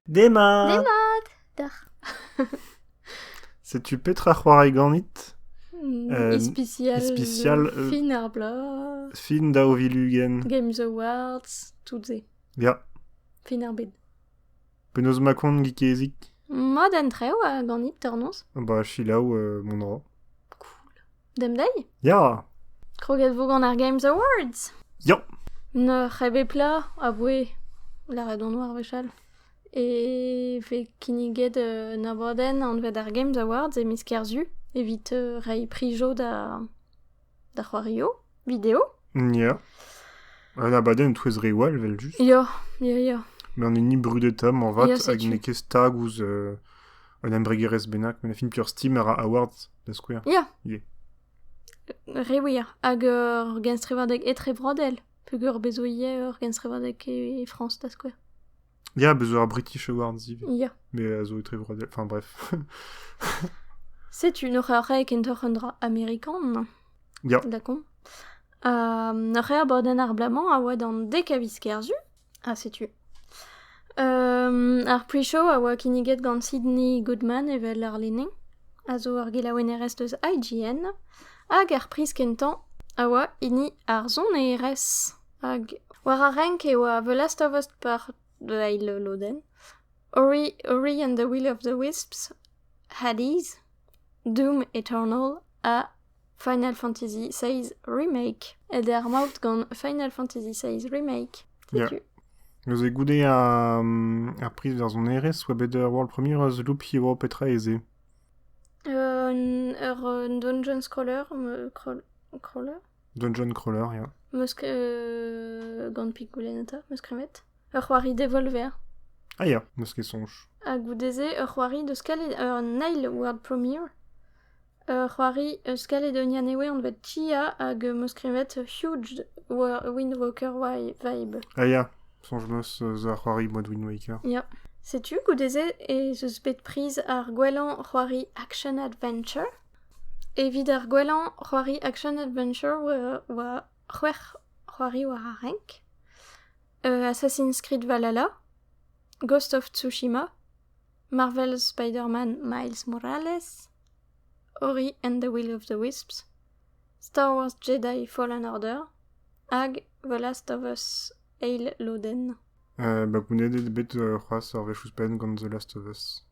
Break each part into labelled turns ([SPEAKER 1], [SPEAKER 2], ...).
[SPEAKER 1] Demat Demat
[SPEAKER 2] D'ac'h.
[SPEAKER 1] Setu petra c'hoari ganit Hmm, Euh, ispicial, ispicial,
[SPEAKER 2] de euh, Fin ar
[SPEAKER 1] bloaz,
[SPEAKER 2] Fin da Ovilugen.
[SPEAKER 1] Games Awards,
[SPEAKER 2] toutes ces. Ya,
[SPEAKER 1] Fin ar bed.
[SPEAKER 2] penaos ma
[SPEAKER 1] kont gikezik Ma den
[SPEAKER 2] trev a ganit tornoz. Bah, chilaou
[SPEAKER 1] euh, mon dra.
[SPEAKER 2] Demdei? Ya!
[SPEAKER 1] Kroget 'vo gant
[SPEAKER 2] ar Games Awards! Ya!
[SPEAKER 1] N'eur
[SPEAKER 2] c'hebepla a voe lâret on oa ar wechall e vez kinniget un abadenn anvet ar Games Awards e miz Kerzu evit reiñ prijo da da c'hoarioù. Vidéo Ya.
[SPEAKER 1] Un abadenn e-touez reoù all, evel-just. Ya, ya, ya.
[SPEAKER 2] Mais on
[SPEAKER 1] est ni brudeta, man vat, Ya, hag setu. n'eo ket stag
[SPEAKER 2] ouzh
[SPEAKER 1] euh, un embregerezh bennak, mais on a fini plusieurs Steam ar Awards, da skouer. Ya. Yeah.
[SPEAKER 2] Re wir. Hag euh, ur genstrevadeg etrebrodel. Peger bezo ivez ur genstrevadeg e, e Frañs, da skouer. Ya, bez' zo ar
[SPEAKER 1] British Awards ivez. Ya. Mais a zo
[SPEAKER 2] etrevroadel.
[SPEAKER 1] Enfin bref.
[SPEAKER 2] Setu un eur e kentoc'h un dra amerikan. Ya. D'accord. Um, ur rea boden ar blamañ a oa d'an dek a viz kerzu, ha setu. Um, ar pre-show a oa kinniget gant Sydney Goodman evel ar lene, a zo ur gelaouennerez eus IGN, hag ar priz kentañ a oa hini ar sonerezh. Hag war ar renk eo a The Last of Us par da eil lodenn. Ori, Ori and the Will of the Wisps, Hades, Doom Eternal ha Final Fantasy VI Remake. Ed eo ar maout gant Final Fantasy VI Remake. Yeah.
[SPEAKER 1] Neuze
[SPEAKER 2] goude
[SPEAKER 1] ar, ar priz varzhonerezh oa bet ur world premiere eus Loop Hero petra ez eo? Un, ur
[SPEAKER 2] dungeon crawler, crawl, crawler? Dungeon
[SPEAKER 1] Crawler, ya. Meus
[SPEAKER 2] gant pigoulenn eta, meus kremet. Ur c'hoari devolver. Ah ya,
[SPEAKER 1] n'eus ket soñj. Ha goude-se,
[SPEAKER 2] ur c'hoari deus kalet... ur Nile World Premiere. Ur c'hoari eus kalet un anezhe anvet Chia hag meus kremet Huge Wind Walker vibe. Ah ya,
[SPEAKER 1] soñj meus eus ar c'hoari Mud Wind Waker. Ya. Setu
[SPEAKER 2] goude-se ez eus bet priz ar gwellañ c'hoari action adventure. Evit ar gwellañ c'hoari action adventure oa c'hwec'h c'hoari war ar renk. Assassin's Creed Valhalla, Ghost of Tsushima, Marvel Spider-Man Miles Morales, Ori and the Will of the Wisps, Star Wars Jedi Fallen Order hag The Last of Us eil lodenn. Ba
[SPEAKER 1] gounedet eo bet c'hoazh ur wech ouzhpenn gant The Last of Us.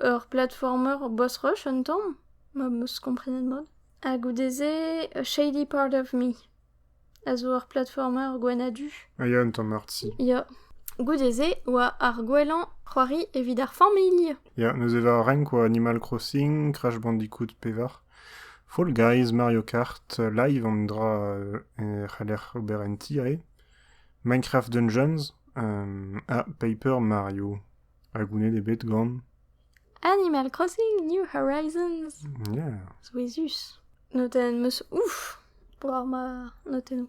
[SPEAKER 2] Ur platformer boss-rush un tamm, m'am eus komprenet mat. Ha goude-se Shady Part of Me a zo ur platformer gwenn ha du. A ya un tamm arti.
[SPEAKER 1] Ya.
[SPEAKER 2] Goude-se oa ar gwellañ c'hoari evit ar familh. Ya, neuze war
[SPEAKER 1] renk oa Animal Crossing, Crash Bandicoot pevar. Fall Guys, Mario Kart, live an dra e c'haller ober en ti eo. Minecraft Dungeons, ha Paper Mario. Ha goulennet eo bet gant... Animal
[SPEAKER 2] Crossing New Horizons. Ya.
[SPEAKER 1] Souezhus.
[SPEAKER 2] Notenn 'm eus ouf war ma notennoù.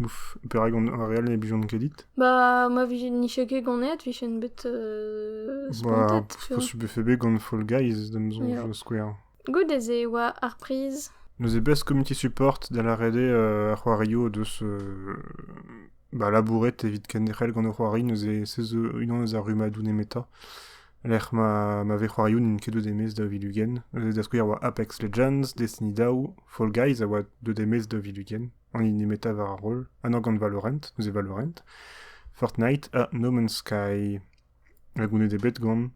[SPEAKER 2] Ouf.
[SPEAKER 1] Perak on ar real ne blijont kredit Bah, ma vije
[SPEAKER 2] niche ket ganet, vijen bet euh,
[SPEAKER 1] Bah, spontet,
[SPEAKER 2] tu vois. faut- fait bet gant
[SPEAKER 1] Fall Guys, d'am soñj, Ja. skouer.
[SPEAKER 2] Goude-se
[SPEAKER 1] e oa
[SPEAKER 2] ar priz. Neuze bez comité
[SPEAKER 1] support da lâret eo euh, ar c'hoarioù o deus euh, ba, labouret evit kenderc'hel gant o c'hoari neuze se zo unan eus ar rummadoù nemetañ lec'h ma, ma vez c'hoarioù n'int ket deuet e-maez da vil-ugent. Neuze da skouer oa Apex Legends, Destiny Daou, Fall Guys a oa deuet e-maez da vil-ugent an hini nemetañ war ar roll, anv gant Valorant, neuze Valorant, Fortnite ha No Man's Sky. Hag ounnet eo bet gant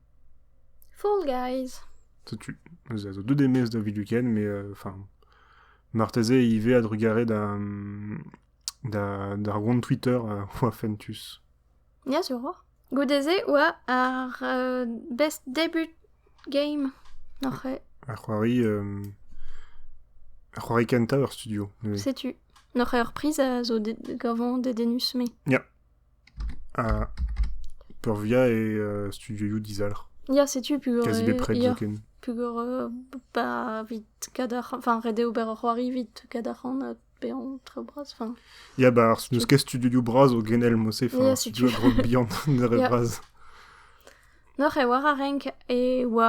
[SPEAKER 1] Fall
[SPEAKER 2] Guys. Setu,
[SPEAKER 1] neuze a zo deut e-maez da Vidukenn, mais euh, enfin, marteze ivez a-drugarez da, da, d'ar gont Twitter euh, oa fentus. Ja, zo ro.
[SPEAKER 2] Goude-se oa ar euh, best debut game oc'h e. Ar c'hoari
[SPEAKER 1] euh, ar c'hoari kenta ur studio neuze. Setu.
[SPEAKER 2] Noc'h ur priz a zo de- gavon dedenus me. Ja.
[SPEAKER 1] peurvia eo
[SPEAKER 2] studioioù
[SPEAKER 1] dizalc'h. Ya, setu pegor Quasi
[SPEAKER 2] bepred
[SPEAKER 1] zoken.
[SPEAKER 2] Pegor ba evit kadarc'han, enfin ret eo ber ur c'hoari evit kadarc'han ha bezañ tre bras. Enfin, Ya, ba n'eus
[SPEAKER 1] ket studioioù bras o genel mose, Ya, setu. studio grog
[SPEAKER 2] bihan,
[SPEAKER 1] nere
[SPEAKER 2] Yeah.
[SPEAKER 1] bras.
[SPEAKER 2] Noc'h e war ar renk e oa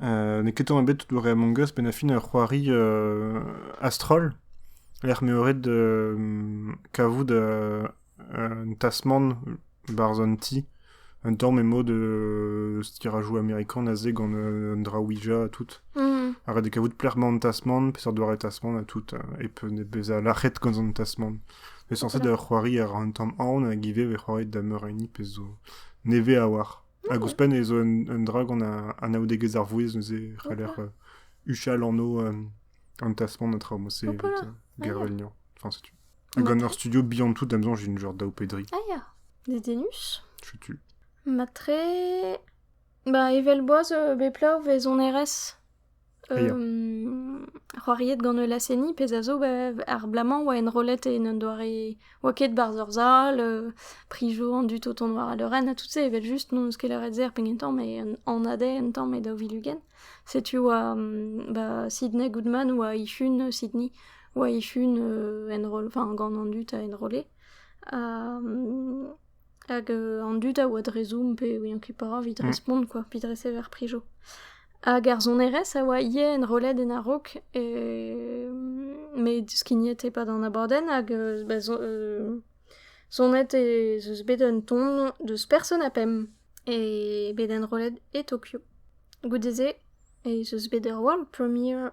[SPEAKER 2] n'eo ket tamm
[SPEAKER 1] ebet tout ober Among Us, penn ha fin ur c'hoari a-stroll, lec'h m'eo ret kavout un tasmant barzh an ti, un tamm emañ de stirajou amerikan aze gant un dra Ouija ha tout. Mm. Ha ret eo kavout plec'h-mañ an tasmant, peseurt doare tasmant ha tout, e pe bezañ lac'het gant an tasmant. Pe sañset ur c'hoari a ra un tamm aon hag ivez e vez c'hoariet da meur a hini, pezh zo nevez a-walc'h. Hag ouzhpenn ez eo un, un dra gant anaoudegezh ar vouezh neuze e c'haller huchal anv an tasmant ha traoù. C'est Gervelnian. Enfin, setu. Hag gant ur studio bihan tout, da'm soñj, j'ai genre daou pe dri. Ah ya, des
[SPEAKER 2] dénus Chetu.
[SPEAKER 1] Matre...
[SPEAKER 2] Bah, evel boaz euh, beplav ez on erez. c'hoariet gant ul laz-seniñ pezh a zo ar bloaz-mañ 'oa enrollet en un doare 'oa ket 'barzh ur sal prijo an dud o tont war al leurenn ha tout se evel-just n'on eus ket lâret se er pegen tamm met an ADER un tamm e daou vil ugent setu 'oa ba Sidney Goodman 'oa ec'hun Sidney 'oa ec'hun enroll enfin gant an dud a enrolle Hag an dud a oa dre Zoom pe ouian ket petra evit respont quoi, evit resever prijo. Hag ar sonerezh a oa ivez enrollet en a-raok met skignet e-pad an abadenn hag ba sonet ez eus bet un ton deus Person ha Pemp bet enrollet e Tokyo. Goude-se ez eus bet ur world premiere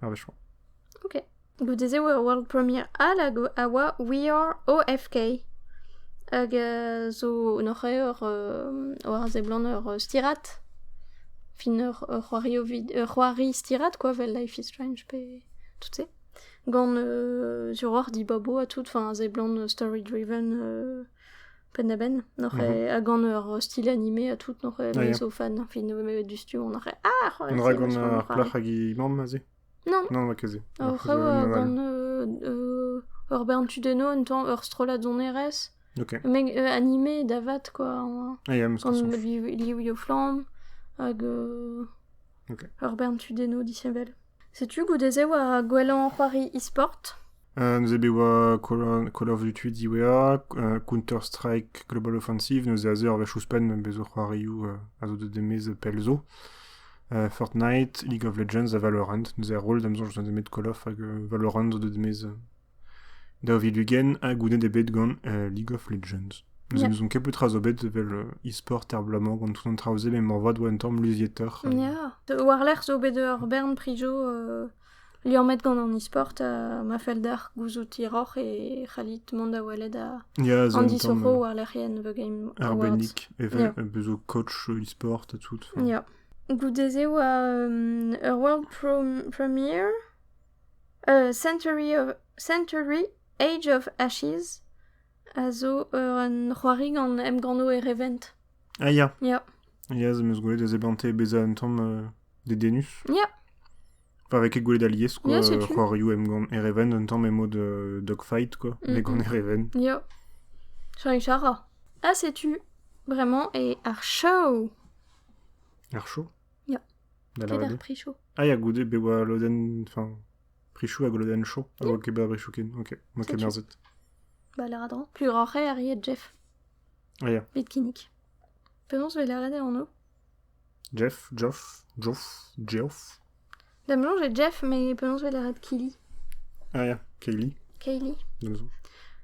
[SPEAKER 1] Ar wech 'oa. Ok.
[SPEAKER 2] Goude-se 'oa World Premiere all hag a oa We Are OFK. Hag euh, zo un horc'haer euh, war a seblant ur euh, stirad. Fin ur, ur c'hoario vid- ur c'hoari stirad quoi, vel Life is Strange pe tout se. Gant euh, sur hor dibabo ha tout, enfin a seblant story driven euh, penn-a-benn. Noc'h eo, ha gant ur stil animé ha tout, noc'h eo, me zo fan. Fin, me du studio, on a Ah, On ra gant
[SPEAKER 1] ar plac'h hag he mamm, a Non. Non, ket se.
[SPEAKER 2] Ur
[SPEAKER 1] rev gant
[SPEAKER 2] ur bern tudeno, un temps ur strollad donerez. Okay. Mais euh,
[SPEAKER 1] animé
[SPEAKER 2] davat, quoi. Ah, yeah, gant
[SPEAKER 1] liv flamme,
[SPEAKER 2] hag euh, Ur bern tudennoù disheñvel. Setu goude-se war gwellañ c'hoari e-sport. Neuze e oa
[SPEAKER 1] Call of Duty diwezhañ, Counter-Strike Global Offensive, neuze a-zeu ar wech ouzhpenn bezo c'hoarioù a zo deuet e-maez pell zo. Fortnite, League of Legends ha Valorant, neuze ar roll da 'm soñj zo nemet Call of hag Valorant zo deuet e-maez Daou vil ugent ha goulennet eo bet gant League of Legends. Neuze yeah. n'ouzon ket petra zo bet evel uh, e-sport er bloaz-mañ gant tout an traoù-se, met moarvat oa un tamm luzietoc'h. Ya, yeah.
[SPEAKER 2] war-lerc'h zo bet ur bern pri jo uh, liammet gant an e-sport uh, ma fell deoc'h gouzout hiroc'h e c'hallit mont da welet uh, yeah, Andy Soro euh, war-lec'hienn The Game Arbennik, evel yeah.
[SPEAKER 1] bezo coach e-sport ha tout. Ya. Yeah.
[SPEAKER 2] Goude-se oa um, World Premiere, Century Age of Ashes a zo un c'hoari gant emgannoù erevent. Ah ya.
[SPEAKER 1] Ya. Ya, ez
[SPEAKER 2] eus gwelet
[SPEAKER 1] ez eo bet bezañ un tamm dedennus. Ya.
[SPEAKER 2] Pas avec
[SPEAKER 1] gwelet alies, quoi. Ya, setu. C'hoarioù emgann
[SPEAKER 2] erevent,
[SPEAKER 1] un tamm emo de dogfight, quoi. Mhm. Emgann erevent. Ya.
[SPEAKER 2] Charing Chara. Ah, setu. Vraiment. Et Archaw.
[SPEAKER 1] Archaw Ya.
[SPEAKER 2] Da Ket ar pri
[SPEAKER 1] chaud. Ah ya, goude be
[SPEAKER 2] oa
[SPEAKER 1] lodenn... Enfin, prichou hag lodenn chaud. A oa ket ba brichou ken. Ok, ok, Setu. merzet. Ba
[SPEAKER 2] lâra dra. Plus roc'h eo arriet Jeff. Ah ya,
[SPEAKER 1] Vit kinnig.
[SPEAKER 2] Penaos 'vez lâret eo anv? Jeff,
[SPEAKER 1] Joff, Joff, Geoff...
[SPEAKER 2] Da'm soñj eo Jeff, mais penaos 'vo lâret Kili Ah ya,
[SPEAKER 1] Kaylee. Kaylee. Da'm
[SPEAKER 2] soñj.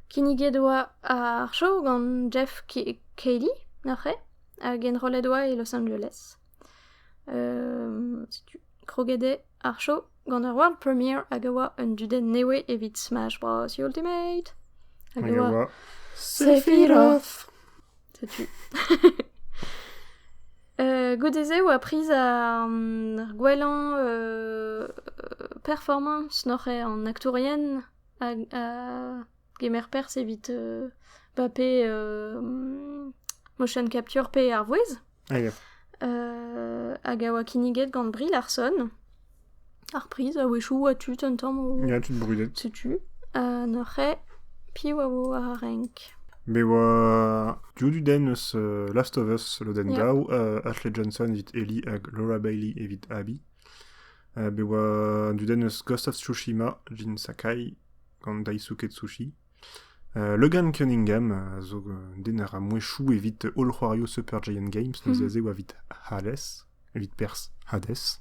[SPEAKER 1] Kinniget
[SPEAKER 2] 'oa ar show gant Jeff Ki- Kaylee, neuze, hag enrollet 'oa e Los Angeles. Euh, setu, kroget eo ar show gant ur world premiere hag a oa un dudenn newe evit Smash Bros. Ultimate. Hag a oa Sephiroth. Setu. Euh, goude-se oa priz ar, ar gwellañ euh, performance n'oc'h eo an aktourien a, a gemer perzh evit euh, Mbappé euh, motion capture pe ar vouezh. A ya. hag a oa kinniget gant Brie Larson. Ar priz, a-wechoù, oa tu un tamm o... Ya, tu brudet. Setu.
[SPEAKER 1] Ha
[SPEAKER 2] neuze, piv a vo ar renk Me oa
[SPEAKER 1] Joduden eus euh, Last of Us lodenn Yeah. daou, euh, Ashley Johnson evit Ellie hag Laura Bailey evit Abby. Uh, be oa Duden eus Ghost of Tsushima, Jin Sakai gant Daisuke Tsushi. Logan Cunningham a zo un den a ra mouezhioù evit holl c'hoarioù Super Giant Games, neuze aze e oa evit Hades, evit perzh Hades.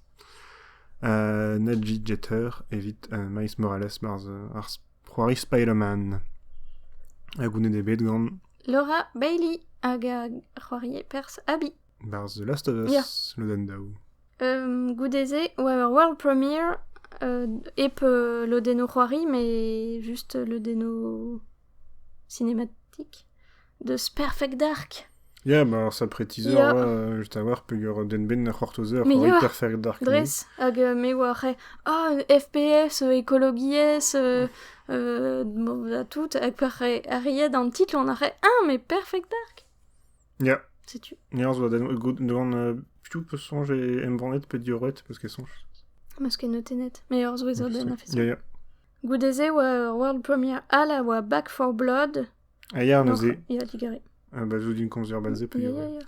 [SPEAKER 1] Uh, Nedjy Jeter evit uh, Miles Morales barzh ar c'hoari Spider-Man. Ha gounet eo bet gant Laura Bailey
[SPEAKER 2] hag a c'hoarie perzh Abby. Barzh The Last of
[SPEAKER 1] Us, yeah. lodenn daou. Goude-se
[SPEAKER 2] e oa ur world premiere hep lodennoù c'hoari met just lodennoù cinématique deus Perfect Dark. Ya, ma ur
[SPEAKER 1] sapre-teaser Ya. oa just
[SPEAKER 2] a-walc'h
[SPEAKER 1] peger den-benn a c'hortozer Mais c'hoari ya. Perfect Dark.
[SPEAKER 2] Dres,
[SPEAKER 1] hag euh, me
[SPEAKER 2] oa c'he ah, FPS, euh, ekologiezh, euh, euh, bon, da tout, hag pa c'he arriet an titl on a c'he ah, mais Perfect Dark Ya.
[SPEAKER 1] Setu. Nerz
[SPEAKER 2] oa doan
[SPEAKER 1] euh, piou peut songer et embannet pe dioret parce qu'elle songe. Mas ket note
[SPEAKER 2] net. Mais ur zouezer den a fait Ya ya.
[SPEAKER 1] Goude-se oa
[SPEAKER 2] World Premiere Hall a oa Back for Blood. Ah ya neuze.
[SPEAKER 1] Il a digéré. Ah
[SPEAKER 2] bah zo d'une conzer
[SPEAKER 1] basée pe dioret.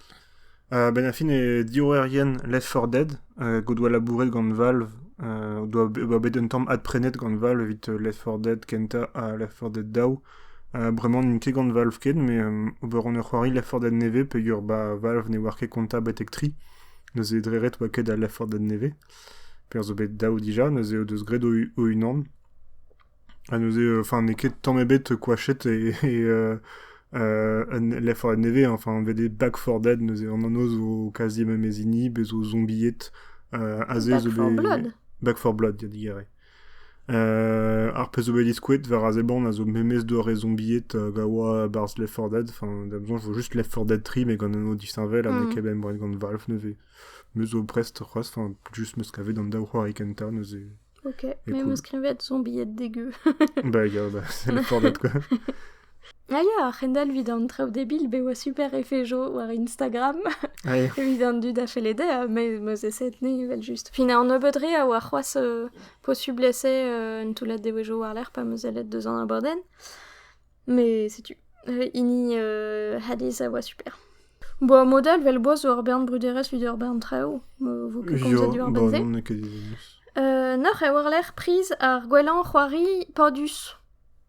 [SPEAKER 1] Euh, ben
[SPEAKER 2] fin e
[SPEAKER 1] diorrerien Left 4 Dead, euh, godoa labouret gant Valve, euh, doa, doa bet un tamm adprenet gant Valve evit euh, Left 4 Dead kenta ha Left 4 Dead Daw, Bremañ n'int ket gant Valve ken, met ober on ur c'hoari laforded nevez peogwir ba Valve ne oar ket kontañ betek tri. Neuze dre ret oa ket al laforded nevez, perzh zo bet dav dija, neuze o deus graet o-unan. Ha neuze enfin n'eo ket tamm ebet koachet e un laforded nevez, enfin anvet eo Backforded, neuze an anv zo kazi memez hini, bez' zo zombied, aze zo bet... Back for Blood?
[SPEAKER 2] Back for Blood, ya
[SPEAKER 1] digere. Ar pezh zo bet diskouet war a seblant a zo memes doare zombied hag a oa barzh Left 4 Dead. Enfin, da besoin, je vois juste Left 4 Dead 3, mais gant un anv disheñvel, ha n'eo ket bemdez gant Valve neuze. Me zo prest c'hoazh, enfin, juste me skavet d'an daou c'hoari kentañ neuze. Ok, mais cool. me
[SPEAKER 2] skrivet zombied dégueu. bah, gars, bah,
[SPEAKER 1] c'est Left 4 Dead quoi. A
[SPEAKER 2] ya a-c'hendalv evit an traoù debil bet oa super efejo war Instagram Ah, eo. evit
[SPEAKER 1] an dud a felle
[SPEAKER 2] dezhañ me 'meus essaye tenez evel-just. Fin an nebeud re a oa c'hoazh euh, posubl essaye euh, un toullad devezhioù war-lerc'h pa 'meus sellet deus an abadenn. Mais setu, euh, hini euh, Hades a oa super. Bon, mod all, vel boaz zo ur bern bruderezh evit ur bern traoù. Euh, vo ket komzet Jo, diwar bon, benn-se. n'on ket deus.
[SPEAKER 1] Euh, Noc'h eo
[SPEAKER 2] war-lerc'h priz ar gwellañ c'hoari Padus.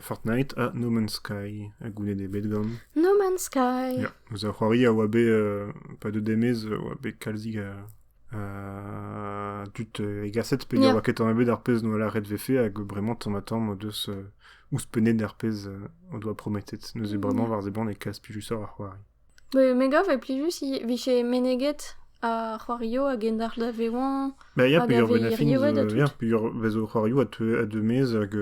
[SPEAKER 1] Fortnite ha No Man's Sky, ha goulenn eo bet gant. No Man's Sky.
[SPEAKER 2] Ya, eus a c'hoari a
[SPEAKER 1] oa bet, euh, pas de demez, a oa bet kalzik a, a dut egaset, pe ne oa ket an bet ar pez noa laret vefe, hag bremañ tamm tamm o deus ouzpenet ar pez o doa prometet. Neuze bremañ war zeban e kas pilusor a c'hoari. Me gav e
[SPEAKER 2] plijus vije meneget ar c'hoarioù a gendalc'h da vezañ... Ma ya
[SPEAKER 1] peogwir
[SPEAKER 2] vezo
[SPEAKER 1] c'hoarioù a deu maez hag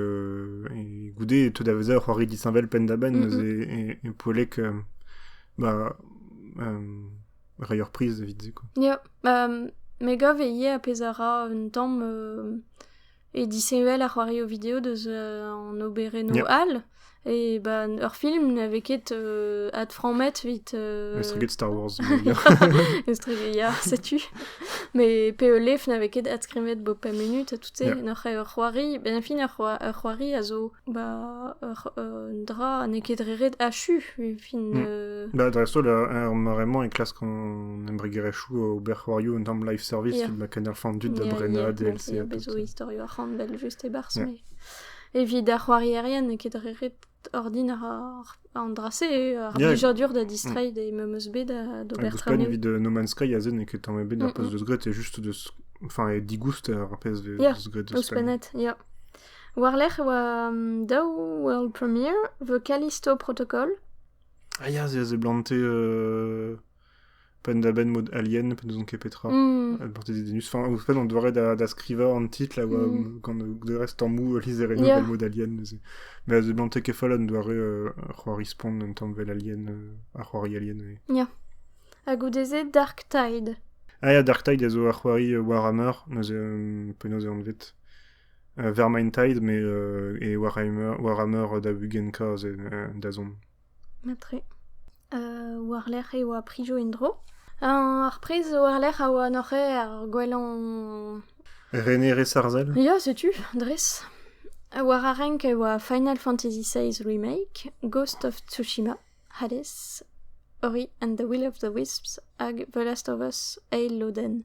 [SPEAKER 1] goude e teu da vezañ ur c'hoari disheñvel penn-da-benn neuze e poellek reiñ ur priz evit se. Ya,
[SPEAKER 2] me gav ivez ar pezh a ra un tamm Et disheñvel ar c'hoarioù video
[SPEAKER 1] deus
[SPEAKER 2] an oberennoù Yeah. all. Et bah, ur film n'avait ket euh, adframmet evit... euh, Estreget Star Wars.
[SPEAKER 1] mais bien. estreget,
[SPEAKER 2] ya, setu. Mais PELF n'avait ket adskrivet bo pemp minutes, tu sais. Yeah. Noc'h eo ur c'hoari, ben fin ur c'hoa- ur c'hoari a zo Bah, un drap n'eo ket dre ret achu, e fin... Mm. Bah, dreist-holl,
[SPEAKER 1] er mare-mañ e klask an embregerezhioù ober c'hoarioù un tamm live service Yeah. evit ma kenderfant tud da Yeah, brenañ yeah, DLC yeah, ha pep bezo tout. istorioù
[SPEAKER 2] arc'hanvel just e-barzh, Yeah. mais... Evit ar c'hoarierien n'eo ket dre ret ordin ar, an dra-se, ar Yeah. blijadur da distreiñ des MMOSB da d'ober Hag ouzhpenn traoñioù. evit euh, No Man's
[SPEAKER 1] Sky, aze n'eo ket tamm ebet ar Mm, post mm. deus graet, c'est juste deus... Enfin, e digouster ar pezh vez Yeah, deus graet eus Ouzhpennet, yeah.
[SPEAKER 2] War-lerc'h e oa daou world premiere 'vo Callisto Protocol. Ah ya,
[SPEAKER 1] c'est planté euh, penn-da-benn mode Alien, pe n'ouzon ket petra. Mm. Elle portait des dénus. Enfin, en fait, on devrait da, da scriva en titre, là, mm. quand de reste en mou Lizereno, yeah. le mode Alien. Mais The planté que folle, on devrait euh, respawn un temps bel Alien, euh, Arwari Alien. Oui. Yeah.
[SPEAKER 2] A goude-se Dark Tide. Ah ya, Dark Tide
[SPEAKER 1] a zo Arwari euh, Warhammer, neuze, euh, penaos e anvet. Vermaint-Tide met e Warhammer Warhammer da ugent kazh dazont. Mat-tre.
[SPEAKER 2] war-lerc'h e oa Prijo en-dro. Ar priz war-lerc'h a oa noc'h ar gwellañ... Renerezh
[SPEAKER 1] arzel? Ya, setu,
[SPEAKER 2] dres. War ar renk e oa Final Fantasy XVI Remake, Ghost of Tsushima, Hades, Ori and the Will of the Wisps hag The Last of Us, Eil Lodenn.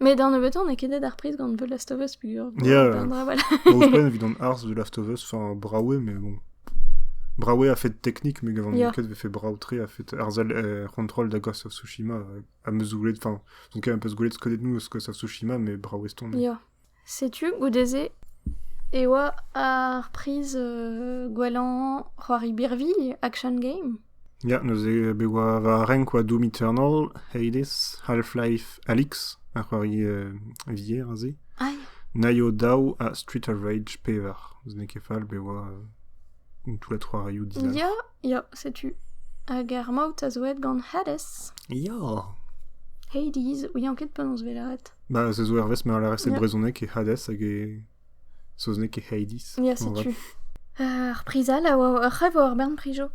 [SPEAKER 2] Met an nebeutañ n'eo ket aet ar priz gant The Last of Us peogwir. Yeah. Voilà.
[SPEAKER 1] Ouzhpenn evit an harz de Last of Us, enfin Braoué, mais bon. Braoué a fait technique, mais gant Yeah. yeah. vefe braoutre a fait arzal euh, contrôle da Ghost of Tsushima euh, à me zoulet, enfin, son cas un peu zoulet de connaître nous ce que c'est Tsushima, mais Braoué stone. Yeah. Setu
[SPEAKER 2] goude-se e oa ar priz gwellañ c'hoari birvilh Action Game. Ya, neuze
[SPEAKER 1] bet oa war ar renk oa Doom Eternal, Hades, Half-Life Alyx, ar c'hoari vier aze. Ah ya. Naio
[SPEAKER 2] daou
[SPEAKER 1] ha Street of Rage pevar. N'eo ket fall bet oa tout le c'hoarioù dizalc'h. Ya, Ya, setu.
[SPEAKER 2] Hag ar maout a zo aet gant Hades. Ya!
[SPEAKER 1] Hades,
[SPEAKER 2] ouian ket penaos wellaat. Ba, se zo hervez ma
[SPEAKER 1] lârez e Ya. brezhoneg e Hades hag e saozneg e Hades. Ya, Moarvat. setu. Euh,
[SPEAKER 2] ar priz all a oa ur c'hrev war bern prijo.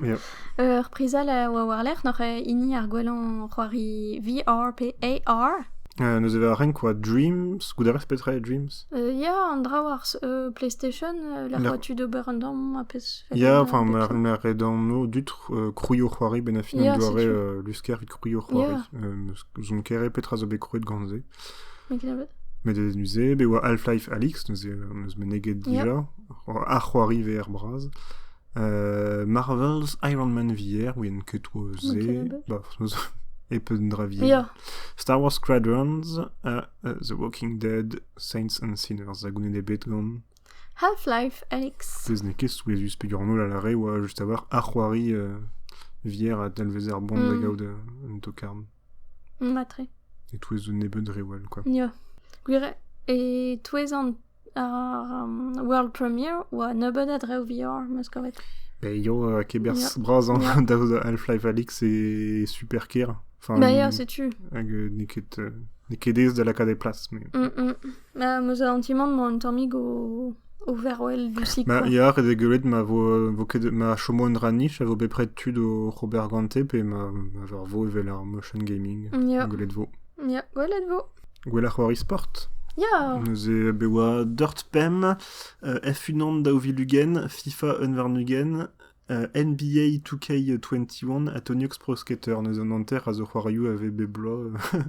[SPEAKER 2] Ya.
[SPEAKER 1] Euh, ar priz
[SPEAKER 2] all a oa war-lerc'h noc'h eh, hini ar gwellañ c'hoari VRPAR. Euh, neuze va renk
[SPEAKER 1] oa Dreams, goudarez petra eo Dreams? Ya, an draoù
[SPEAKER 2] ar PlayStation, lec'h oa tu d'ober un dorm, un pezh... Ya, enfin, ma
[SPEAKER 1] re dormo, dut krouio-c'hoari, ben a fin an doare lusker et krouio-c'hoari. Zon kere petra zo bet krouet gant se. Met e neuze, be oa Half-Life Alix, neuze neus meneget dija, ar c'hoari VR braz. Uh, Marvel's Iron Man VR, ouien ket oa ze, ba, e peun dra VR. Star
[SPEAKER 2] Wars
[SPEAKER 1] Squadrons, uh, The Walking Dead, Saints and Sinners a goulenn ebet gant... Half-Life
[SPEAKER 2] Alex. Bez n'eo ket souezhus
[SPEAKER 1] peger an holl a lâre oa just avoir ar c'hoari euh, vier a dalvez ar bon da mm. gaout euh, un tokarn. Matre.
[SPEAKER 2] Et touez
[SPEAKER 1] un nebeud rewell, quoi. Ja. Gwir,
[SPEAKER 2] e touez an Ar world premiere oa nebeut a drev vioc'h, 'm eus kavet. Pe eo
[SPEAKER 1] keberzh brasañ daoust da Half-Life Alyx e super kêr. Enfin, Ma ya, setu.
[SPEAKER 2] Hag n'eo ket
[SPEAKER 1] n'eo ket aes da lakaat e plas. Mais... Ma 'm
[SPEAKER 2] eus an ti-man mañ un tammig o o vervel du sik Ma ya, ret eo gwelet ma
[SPEAKER 1] vo vo ket ma chomo un dra nich a vo bepred tud o ober gante pe ma ma vo evel ar motion gaming. Ya. Gwelet vo.
[SPEAKER 2] Ya,
[SPEAKER 1] gwelet vo.
[SPEAKER 2] Gwelloc'h war e-sport
[SPEAKER 1] Ya Neuze
[SPEAKER 2] be oa
[SPEAKER 1] dort pemp, euh, F1 daou vil ugent, FIFA un warn-ugent, euh, NBA 2K21 ha Tony Hawk's Pro Skater. Neuze an hanter a zo c'hoarioù a vez bep bloaz. euh,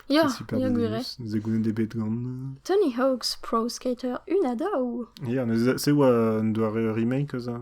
[SPEAKER 1] Ya,
[SPEAKER 2] c'est super ya gwir eo. Ze gounet eo bet
[SPEAKER 1] gant. Tony Hawk's Pro
[SPEAKER 2] Skater 1 ha daou. Ya, neuze, c'est oa
[SPEAKER 1] un doare remake eus a